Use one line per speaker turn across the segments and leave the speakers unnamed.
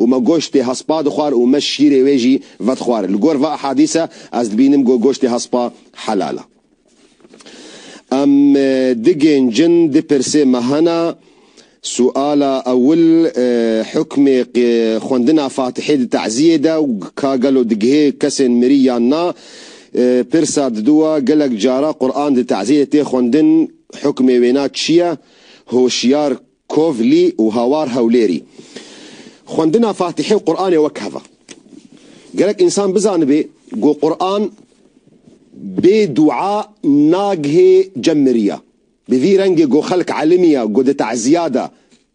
Û me goştê hespa dixwar û me şîrê wê jî vedixwar. Li gor ve ehadîse ez dibînim ku goştê hespa helal e. Em digêncin du pirsê me hene. Suala ewil, hukmê xwendina Fatihê di teziyê de û ka gelo digihê kesên mirî yan na? Pirsa diduwa, gelek cara Quran di teziyê de tê xwendin, hukmê wêna çi ye? Hoşiyar Kovlî û hawar Hewlêrî. Xwendina Fatîhe û Quranê wek heva. Gerek însan bizanibê ku Quran bê dua nagihê cem miriya. Bi vî rengê ku xelk elimîya ku di tezîya de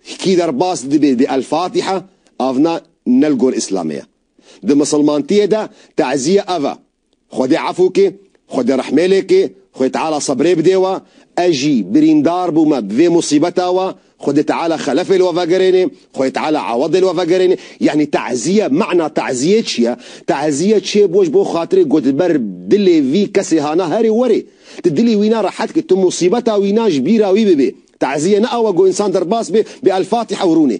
hikî derbas dibê bi El-Fatîhe avna nel gor îslamê ye. Di misilmantîyê de tezîye ev e Xwedê efû kê, Xwedê rehmêlê kê, Xwê Teala sebrê bidê we, ez jî birîndar bûme bi vê musîbeta we, Xwedê Teala xelefê li we vegerênê, Xwê Teala ewedê li we vegerênê. Yanî te'zîye, me'na te'zîyê çi ye? Te'zîye çê bo ji bo xatirê ku di ber dilê vî kesê hana herê werê. Tu dilî wîna rehet kî, tu musîbeta wîna ji bîra wî bibê. Te'zîye ne awe ku însan derbas bê, bê El-Fatiha û rûnê.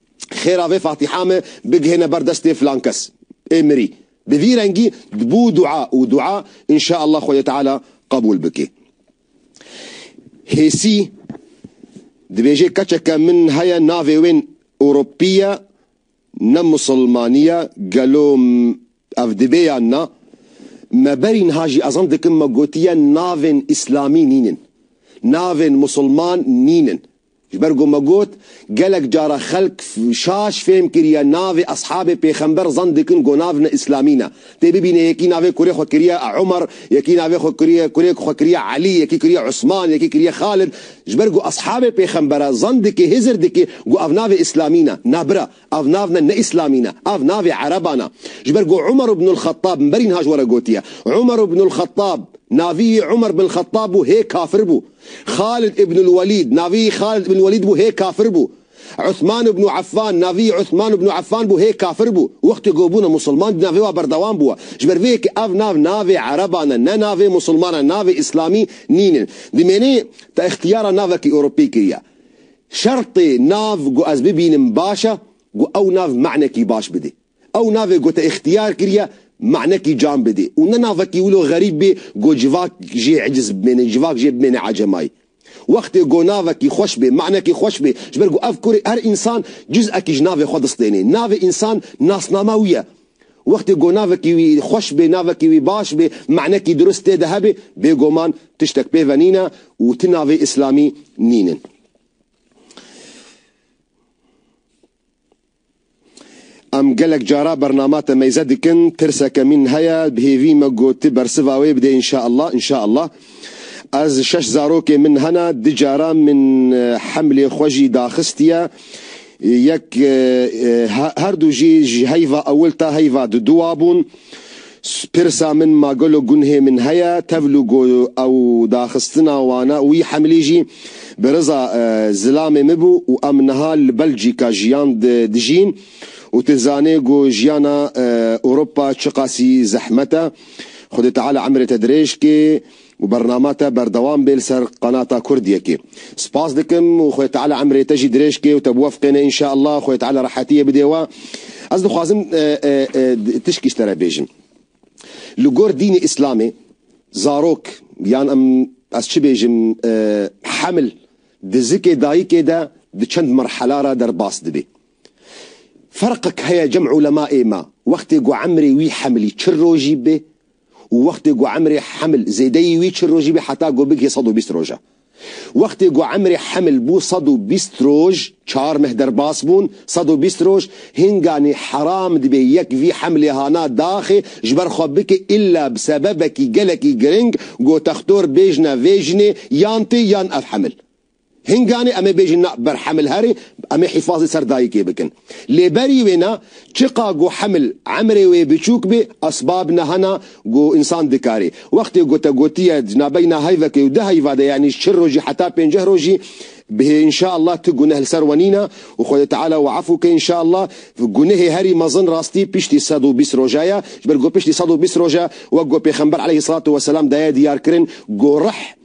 Xêra vê fatiha me bigihêne ber destê filan kes. Ê mirî. Bi vî rengî dibû dua û dua inşaallah Xwedê Teala qebûl bike. Hêsî dibêje keçeke min heye navê wên Ewropî ye ne Musilmanî ye gelo ev dibe yan na? Me berî niha jî ezan dikim me gotiye navên Îslamî nînin. Navên Musilman nînin. Ji ber ku me got, gelek cara xelk şaş fêm kiriye navê eshabê pêxember zan dikin ku nav ne îslamî ne. Tê bibîne yekî navê kurê xwe kiriye Umer, yekî navê xwe kiriye kurê xwe kiriye Elî, yekî kiriye Usman, yekî kiriye Xalid. Ji ber ku eshabê pêxembere zan dikê hêzir dikê ku ev navê îslamî ne. Na bira, Ev nav ne ne îslamî ne, ev navê ereban e. Ji ber ku Umar ibn al-Khattab mberîn ha ji we re gotiye. Umar ibn al-Khattab, navî yî Umar bin Khattab bû hê kafir bû. Khalid ibn al-Walîd, navî yî Khalid ibn al-Walîd bû hê kafir bû. Uthman ibn Affan, navî yî Uthman ibn Affan bû hê kafir bû. Wextê ku bûne musilman dîna vê wa berdewam bûye. Ji ber vê yekê ev nav navê ereban e, ne navê musilman e, navê îslamî nîn in. Dimênê te îxtiyara navekî Ewropî kiriye. Şertê nav ku ez bibînim baş e ku ew nav manekî baş bidê. Ew navê ku te îxtiyar kiriye manekî can bidê û ne navekî wilo xerîb bê ku civak jê eciz bimêne, civak jê bimêne ecemayî. Wextê ku navekî xweş bê, manekî xweş bê, ji ber ku ev kurê her însan cizekî ji navê xwe distênê. Navê însan nasnama wî ye. Wextê ku navekî wî xweş bê, navekî wî baş bê, me'nekî dirust tê de hebê, bêguman tiştek pê ve nîn e û ti navê îslamî nîn in. Em gelek cara bernama te meyze dikin, tirseke mîn heye, bi hêvî me gotiye bersiva wê bidê inşaallah, inşaallah. Ez şeş zarokên min hene, du caran min hemlê xwe jî daxistiye. Yek her du jî ji heyva ewil ta heyva duduwa bûn. Pirsa min ma gelo gunhê min heye tevlû ku ew daxistina wan e û wî hemlî jî bi riza zilamê min bû û em niha li Belcîka jiyan dijîn û tu zanê ku jiyana Ewropa çiqasî zehmet e. Xwedê Teala emrê te dirêj ke û bernama te berdewam bê li ser qanata Kurdiyekê. Spas dikim û Xwedê Teala emrê te jî dirêj ke û te biwefqêne inşallah Xwedê Teala rehetiyê bidê we. Ez dixwazim tişkî ji te re bêjim. Li gor dînê Îslamê zarok yan em ez çi bêjim heml di zikê dayikê de di çend merhela re derbas dibê. Ferqek heye cem ulemaê me wextê ku emrê wî hemilî çil rojî bê û wextê ku emrê hemil zêdeyî wî çil rojî bê heta ku bigihê sed û bîst roj e. Wextê ku emrê hemil bû sed û bîst roj, çar meh derbas bûn, sed û bîst roj, hinganî heram dibê yek vî hemlê hana daxê ji ber xwe bike îlla bi sebebekî gelekî giring ku textor bêjne vê jinê yan tê yan ev hemil. Hinganê em ê bêjin na ber Hemil herê, em ê hîfazê ser dayikê bikin. Lê berî wê na, çiqa ku Hemil emrê wê biçûk bê, esbab na hena ku însan dikarê. Wextê ku te gotiye cinabeyî na heyvekê û di heyva de yanî çil rojî heta pênceh rojî bihê înşeallah tu guneh li ser we nîn a û Xwedê Teala we efû ke înşeallah. Gunehê herî mezin rastî piştî sed û bîst roja ye. Ji ber ku piştî sed û bîst roja wek ku Pêxember eleyhî selatu weselam daye diyarkirin ku rih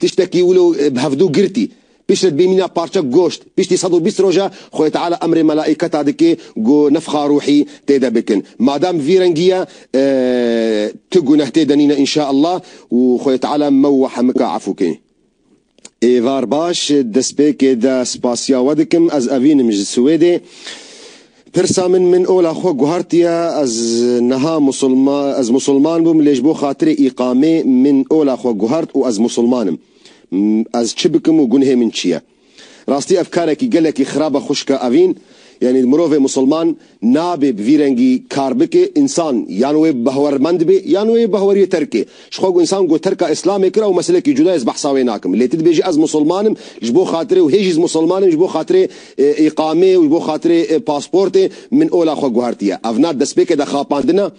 Tiştekî wilo bi hevdu girtî. Piştre dibêmîna parçek goşt. Piştî sed û bîst roja Xwedê Teala emrê melaîketa dike ku nefxa rûhî tê de bikin. Madem vî rengî ye tu guneh tê de nîne înşa Allah û Xwedê Teala me û we hemika efû ke. Êvar baş, destpêkê de spasiya we dikim. Ez evînim ji Swêdê. Pirsa min min ola xwe guhartiye ez niha ez musulman bûm lê ji bo xatirê îqamê min ola xwe guhart û ez musulman im. Ez çi bikim û gunhê min çi ye? Rastî ev karekî gelekî xirab e xwişka evîn yanî mirovê musulman nabê bi vî rengî kar bike însan yan wê behwermend be yan wê behweriyê terkê Ji xwe ku însan ku terka îslamê kir ew meselekî cuda ye ez behsa wê nakim. Lê tu dibêjî ez musilman im ji bo xatirê û hê jî ez musilman im ji bo xatirê îqamê û ji bo xatirê pasportê min ola xwe guhertiye. Ev na destpêkê de xapandina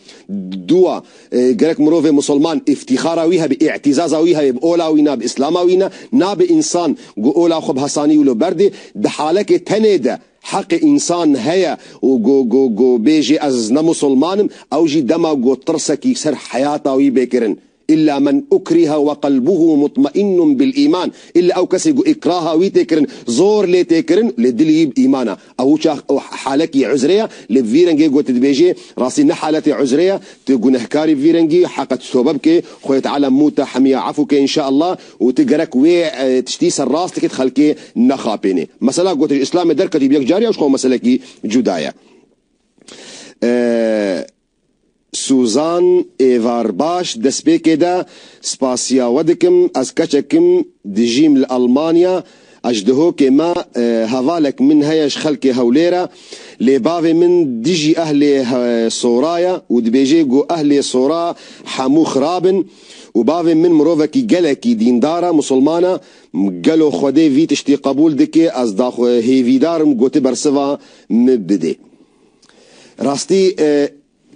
dûa. Gerek mirovê musilman îftîxara wî hebe, î'tîzaza wî hebe bi ola wî na, bi îslama wî na. Nabe însan ku ola xwe bi hesanî wilo berdê di halekê tenê de Heqê însan heye û go go go bêjê ez ne musulman im, ew jî dema got tirsekî ser heyata wî bê kirin. Îlla men ukriha we qelbuhu mutmeinun bil îman, îlla ew kesê ku îkraha wî tê kirin, zor lê tê kirin, lê dilî wî bi îman e. Ew çax û halekî uzre ye, lê bi vî rengê ku tu dibêjê, rastî ne haletê uzre ye, tu gunehkarî bi vî rengî, heqe tu tobe bikê, Xwedê Teala mû te hemiya efû ke inşaallah, Û tu gerek wê tiştî ser rastikê di xelkê nexapênê. Mesela gotin ji îslamê derketî bi yek carî ew ji xwe meselekî cuda ye. Suzan Êvar Baş destpêkê de, Spasiya we dikim, ez keçek im, dijîm li Elmanya, A ji dihokê me hevalek min heye ji xelkê Hewlêre lê bavê min dijî ehlê Sora ye û dibêjê ku ehlê Sora hemû xirab in û bavê min mirovekî gelekî dîndar e, musulman e. Gelo Xwedê vî tiştî qebûl dike? Ez daxwe hêvîdar im ku tu bersiva min bidê. Rastî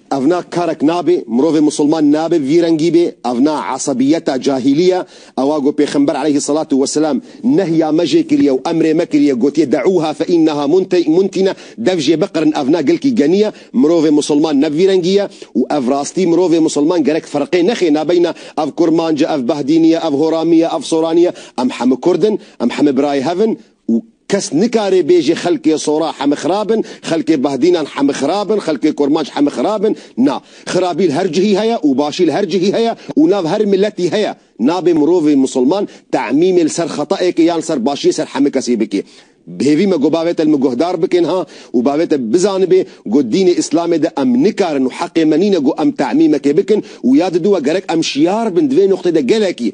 Ev na karek nabe, mirovê musulman nabe vî rengî be, ev na esebiyeta cahîlî ye, ewa ku pêxember eleyhî selatû weselam nehya me jê kiriye û emrê me kiriye gotiye deûha fe îneha muntine, dev jê biqirin ev na gilkî genî ye, mirovê musulman ne bi vî rengî ye û ev rastî mirovê musulman gerek firqê nexe nabeyna ev kurmanc e, ev bahdînî ye, ev horamî ye, ev soranî ye, em hemû kurd in, em hemû birayê hev in. û kes nikare bêje xelkê Sora heme xirab in, xelkê Bahdînan heme xirab in, xelkê Kurmanc heme xirab in. Na, xirabî li her cihî heye û başî li her cihî heye û nav her miletî heye. Nabe mirovê misilman te'mîmê li ser xeta'ekê yan li ser başiyê ser heme kesî bike. Bi hêvî me got bavête li min guhdar bike niha û bavête bizanibe got dînê Îslamê de em nikarin û heqê me nîne got em te'mîmekê bikin û ya diduwa gerek em şiyar bin di vê nuqtê de gelekî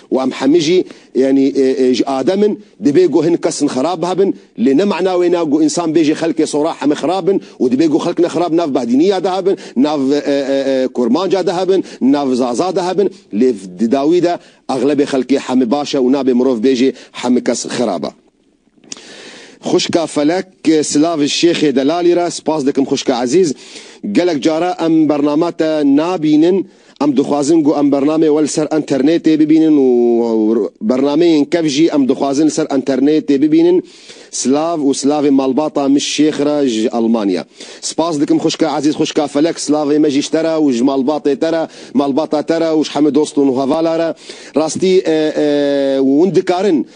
Û em hemî jî yanî ji Adem in, dibê ku hin kes in xerab hebin, lê ne mana wê ne ku însan bê jê xelkê sora hemî xerab bin û dibê ku xelk ne xerab nav behdîniya de hebin, nav kurmanca de hebin, nav zaza de hebin, lê di dawî de exlebê xelkê hemî baş e û nabê mirov bê jê hemî kes xerab e. Xwişka Felek Silav Şêxê Delalî re spas dikim xwişka ezîz. Gelek care em bername te nabînin, em dixwazin ku em bernamê we li ser enternêtê bibînin û bernameyên kev jî em dixwazin li ser enternêtê bibînin. Silav û silavê malbata min Şêx re ji Elmanya. Spas dikim xwişka ezîz Xwişka Felek silavê me jî ji te re û ji malbatê te re, malbata te re û ji hemû dost û hevala re. Rastî hûn dikarin.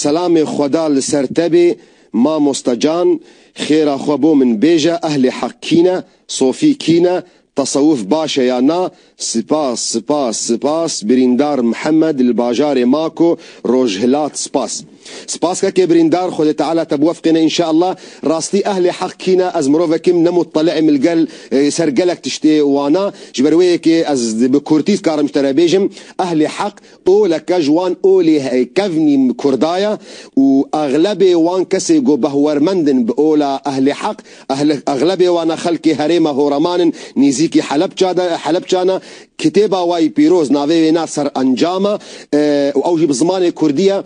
Selamê xweda li ser te bê mamosta can, xêra xwe bo min bêje ehlê heq kî ne, sofî kî ne, tesewuf baş e ya na, sipas sipas sipas birîndar Mihemed li bajarê Mako rojhilat sipas. Sipas keke birîndar xwedê teala te biwefqêne inşeella, rastî ehlê heq kî ne ez mirovek im ne muteli'im li gel li ser gelek tiştê wana ji ber wê yekê ez bi kurtî dikarim ji te re bêjim ehlê heq Oleke ji wan olê kevnî Kurda ye û exlebê wan kesê ku behwermend in bi ola ehlê heq, exlebê wan a xelkê herêma Horaman in nîzîkî Helepça de Helepça ne. Kitêba wayî pîroz navê wê ne Serencam e û ew jî bi zimanê Kurdî ye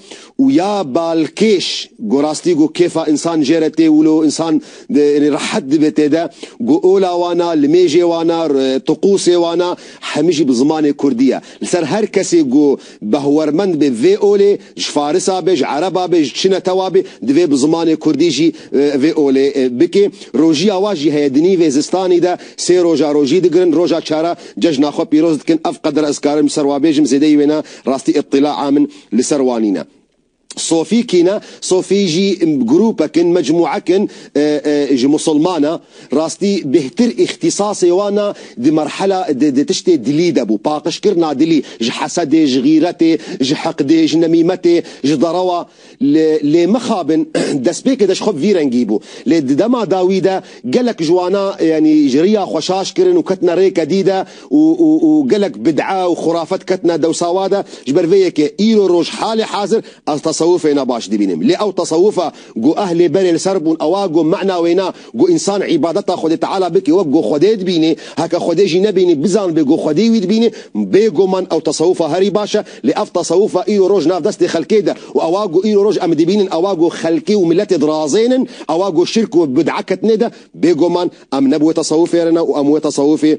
û ya balkêş ku rastî ku kêfa însan jê re tê wilo însan rehet dibe tê de ku ola wan a, limêjê wan a, tiqûsê wan a hemî jî bi zimanê Kurdî ye. Li ser her kesê ku behwermend be vê olê ji farisa be, ji ereba be, ji çi netewa be divê bi zimanê kurdî jî vê olê bike. Rojîya wan jî heye di nîvê zistanî de sê roja rojî digirin, roja çar a cejna xwe pîroz dikin. Ev qedira ez karim ji ser wan bêjim zêdeyî wêna rastî îtîlaa min li ser wan nîne. Sofî kî ne? Sofî jî grûpek in, mecmûek in ji Musilman e. Rastî bêhtir îxtîsasê wan a di merhela di di tiştê dilî de bû. Paqijkirina dilî ji hesedê, ji xîretê, ji hiqdê, ji nemîmetê, ji derewa. Li lê mixabin destpêkê de ji xwe bi vî rengî bû. Lê di dema dawî de gelek ji wana yanî ji riya xwe şaş kirin û ketine rêke dî de û û û gelek bid'a û xurafet ketine dewsawa de, ji ber vê yekê îro roj halê hazir ez tesewufê na baş dibînim. Lê ew tesewufa ku ehlê berê li ser bûn ewa ku ma'na wê na ku însan îbadeta Xwedê Teala bike wek ku Xwedê dibîne, heke Xwedê jî nebîne bizanbe ku Xwedê wî dibîne. Bê guman ew tesewufa herî baş e, lê ev tesewufa îro roj nav destê xelkê de û ewa ku îro roj em dibînin ewa ku xelkê û miletê dirazênin ewa ku şirk û bid'a ketine de, bê guman em ne bi wê tesewufê re ne û em wê tesewufê